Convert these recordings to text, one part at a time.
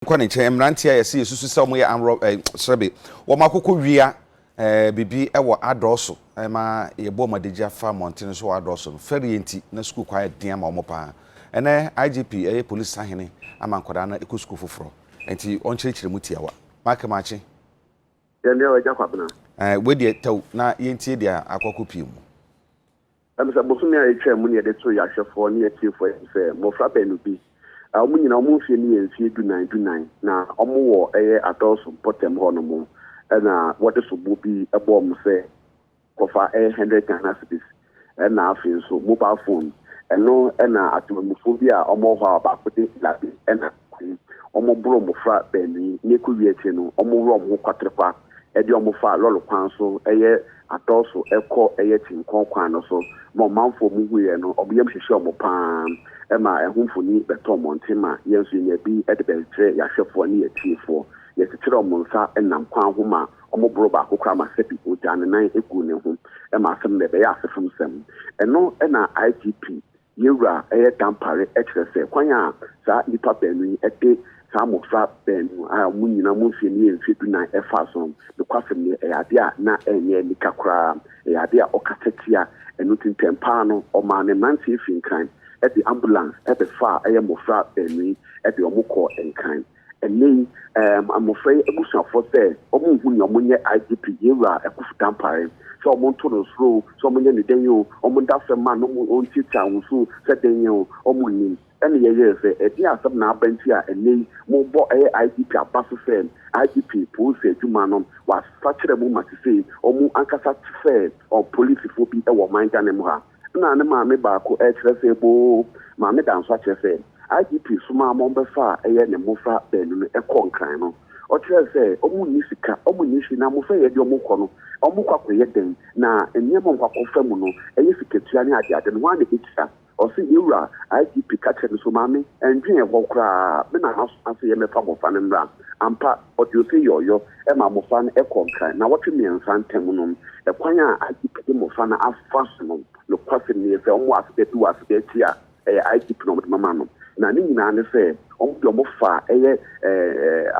nkɔ ne nkyɛn, mmeranteɛ a yɛse yɛsusu sɛ wɔyɛ armed rob eh, srɛbe, wɔn akokɔ wia eh, biribi wɔ adɔɔso eh, ma yɛbɔ wɔn adagyi afa mmɔntene so wɔ adɔɔso no, fɛreɛ nti na sukuu kwan yɛ den ama wɔn paa. Ɛnɛ IGP ɛyɛ polisi sahene ama nkwadaa no ɛkɔ sukuu foforɔ, nti ɔnkyerɛkyerɛ mu tiawa. Make makye. Yɛn deɛ ɔgya kwabena. Eh, wei deɛ tɛw na yɛntie deɛ akɔkɔ pii mu. Ɛwom sɛ bosome a etwaam na yɛde too yɛn ahwɛfo ne yɛn atiefo anim sɛ mmofra baanu bi a wɔn nyinaa wɔn mfe no yɛ mfe dunan dunan na wɔwɔ ɛyɛ adɔɔso mpɔtam hɔnom na wɔde sobo bi bɔɔ me sɛ kɔfa ɛyɛ hundred Ghana cedis na afei nso mobile phone. Ɛno na atemamufoɔ bi a wɔwɔ hɔ a ɔbaako din de Labi na kwan. Wɔboro mmofra baanu yi, na ekowie akyiri no, wɔworɔ wɔn ho kwaterekwa de wɔn fa lɔre kwan so yɛ atɔw so kɔ yɛ kyenkɔn kwan no so. Ma ɔmanfo a wɔn hu yɛ no, wɔn yam hyehye wɔn pa ara ma ɛho mfoni bɛtɔ mmɔnten ma yɛn nso yenya bi de bɛkyerɛ yɛn ahwɛfo ne yɛn atiefo. Yɛkyekyere wɔn nsa nam kwan ho ma wɔboro baako koraa ma Seppi ogyaa ne nan guu ne ho ma asɛm no na ɛbɛyɛ asefo nsɛm. Ɛno na IGP Yɛn Wura yɛ dampare kyerɛ sɛ kwan a saa nnipa baanu yi de saa mmofra baanu a wɔn nyinaa wɔn mfeɛ no yɛ mfeɛ dunan faa so no, nokwasɛm nie, ɛyɛ adeɛ a na ɛnyɛ anika koraa. Ɛyɛ adeɛ a ɔkasa tia. Ɛno nti ntɛm pa ara no, ɔmaa ne mmeranteɛ fii Nkran de ambulance bɛfaa mmofra baanu yi de wɔn kɔɔ Nkran. Ɛnnɛ yi, mmofra yi abusuafo sɛ wɔnhu nea wɔnyɛ IGP Yewura Akuffo Dampare, sɛ wɔnto no soro o, sɛ wɔnyɛ no dɛn o, wɔnda asɛm mma no, wɔntiatia ahosu o, sɛ dɛn o, wɔnnim. Ɛnna yɛyɛɛ sɛ, Ɛdeɛn asɛm na aba nti a ɛnnɛ yi morebɔ ɛyɛ IGP aba so sɛ IGP polisi adwuma no wɔasakyera mu ma sesei wɔn ankasa te sɛ polisifo bi wɔ ɔman Ghana mu ha? na ne maame baako rekyerɛ sɛ boo. Maame da nso akyerɛ sɛ IGP somaa ma wɔbɛfaa ɛyɛ ne mmofra baanu no kɔɔ Nkran no. Ɔkyerɛɛ sɛ wɔn nni sika, wɔn nni hwee na mmofra yi ɛdeɛ wɔkɔ no, wɔkɔ akɔyɛ dɛn? Na nneɛma a wɔkɔ akɔfa mu no, ɛyɛ sikatua ne adeade no, hwan na ɛbɛtua? Ɔse, Yɛwura IGP ka kyerɛɛ me so, maame, ɛndwen ɛhɔ koraa, me na masoma sɛ yɛmmɛfa mmofra no mmra. Ampa, ɔde ose yɛ ɔyɔ ma mmofra no kɔ nkran nnawɔtwe mmiɛnsa ntam no. Kwan a IGP de mmofra no afa so no, nokwasɛm ni, sɛ wɔwɔ aseda bi wɔ aseda akyi a, ɛyɛ IGP na wɔde bɛma no. Na ne nyinaa ne sɛ, wɔde wɔn fa yɛ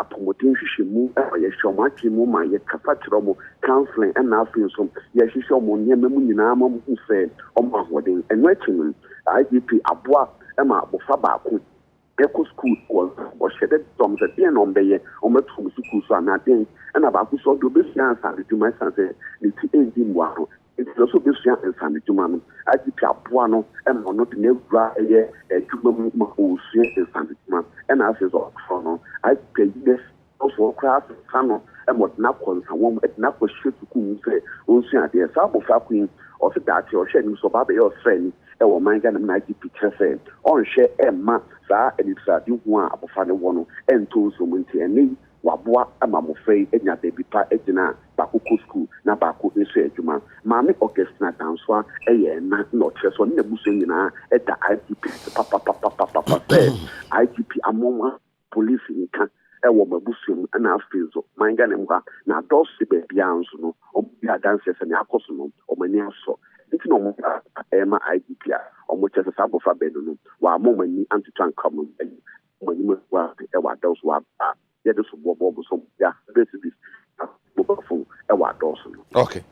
apɔmuden nhwehwɛmu ma yɛhyɛ wɔn adwene mu ma yɛkasa kyerɛ wɔn, counselling, ɛnna afei nso yɛhwehwɛ wɔn nneɛma mu nyinaa ma wɔhu sɛ wɔwɔ ahoɔden. Ɛno akyi no, IGP aboa ma abofra baako. Yɛkɔ skuul wɔ ɔhyɛ dɛ dɔm sɛ dɛn na ɔmbɛyɛ, ɔmbɛtoa mu skuul so anaa dɛn? Nna baako so ɔwɔ dɛ obesua nsanodwuma esian sɛ ne tsir enndzi mboano ntsi na ɔwɔ dɛ obesua nsanodwuma no. IGP aboa no ma ɔno dze n'ewura yɛ edwuma mu ma osua nsanodwuma na afei so ɔtɔɔ no. IGP eyi n'efi Afoforɔ koraa sesa no ma ɔde no akɔ nsawam, de no akɔhyɛ sukuu mu sɛ ɔnsua adeɛ. Saa abɔfra ko yi, ɔwɔ sɛ daakye a ɔhwɛ anim sɛ ɔba abɛyɛ ɔsraani wɔ ɔman Ghana mu na agye pi kyerɛ sɛ ɔnhwɛ mma saa anitradehu a abɔfra no wɔ no ntɔ nsuo mu nti ɛnnɛ yi waboa ma mmɔfra yi anya baabi pa gyina a baako kɔ sukuu na baako nso yɛ adwuma. Maame Augustina Dansoah yɛ ɛna na ɔkyerɛ sɛ ɔne n'abusua nyinaa da IGP ase papapapapapa sɛ IGP amoa wɔn Police nka wɔ m'abusua mu na afei so man Ghana mu ha na adɔɔso sɛ baabiara nso no wɔyɛ adanseɛ sɛ nea akɔ so no wɔn ani asɔ nti na wɔn ba rema IGP a wɔkyerɛ sɛ saa abɔfra baanu no wɔamma wɔn ani antoto anka wɔn mma yi wɔn anim agu ase wɔ adɔɔso wɔ aberɛ a yɛde soboɔ bɔ wɔn so wɔde 100 cedis na mobile phone wɔ adɔɔso no. Okay.